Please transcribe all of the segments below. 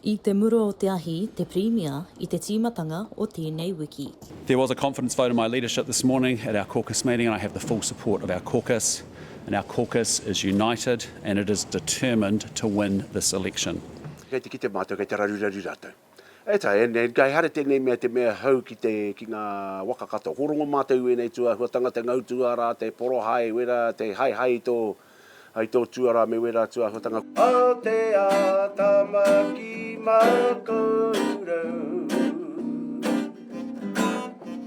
I te mura o te ahi te Pirimia i te tīmatanga o tēnei wiki. There was a confidence vote in my leadership this morning at our caucus meeting and I have the full support of our caucus and our caucus is united and it is determined to win this election. Kei te kite mātou, kei te raruraru rātou. That's right, and and kei hara tēnei mea te mea hou ki te, ki ngā waka katoa. Ko rongo mātou i wēnei tūāhua tangata, ngau tūārā, te porohae, wera, te haehae i tō. Hai tō tuarā me wērā atu āhuatanga. Aotea tama ki ma koutou.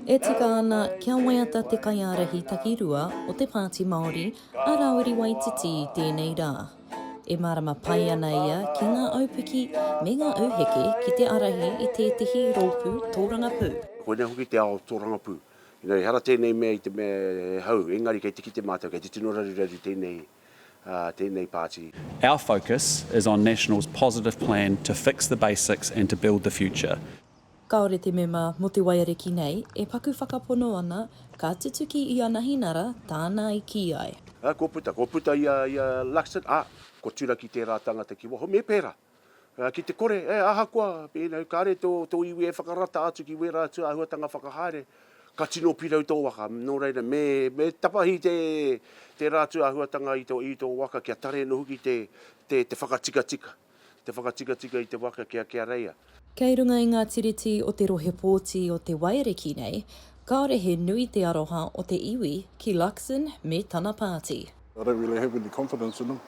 E tika ana kia waiata te kaiārahi takirua o te Pāti Māori, a Rawiri Waititi i tēnei rā. E mārama pai ana ia ki ngā aupiki me ngā auheke ki te ārahi i tētehi rōpū tōrangapū. Koinei hoki te ao tōrangapū. Ina ehara tēnei mea i te mea e hau, engari kei te kite mātou, kei te tino raruraru tēnei, tēnei pāti. Our focus is on National's positive plan to fix the basics and to build the future. Kāore te mema mō te waiariki nei e paku whakapono ana ka tutuki i ana hinara tāna i kī ai. Kua puta, kua puta i a Luxon, ā, kua turaki tērā tāngata ki waho, me pērā. Ki te kore, e, ahakoa, pēnei, kāre tō, tō iwi e whakarata atu ki wērā atu āhuatanga whakahaere, ka tino pirau tō waka. Nō reira, me, me tapahi te, tērā atu āhuatanga i tō, i tō waka kia tare anō hoki te, te, te whakatikatika, te whakatikatika i te waka kia, kia reia. Kei runga i ngā tiriti o te Rohe Pōti o Te Waiariki nei, kāore he nui te aroha o te iwi ki Luxon me tana pāti. I don't really have any confidence in him.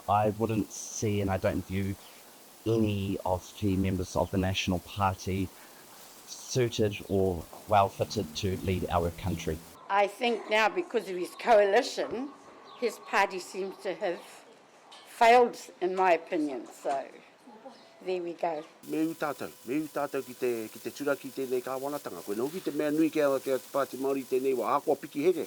I wouldn't see and I don't view any of the members of the National Party suited or well fitted to lead our country. I think now because of his coalition, his party seems to have failed in my opinion, so there we go. Me ū tātou, me ū tātou ki te, ki te turaki i tēnei Kāwanatanga. Koinā hoki te mea nui ki a, ki a te Pāti Māori i tēnei wā, ahakoa piki here.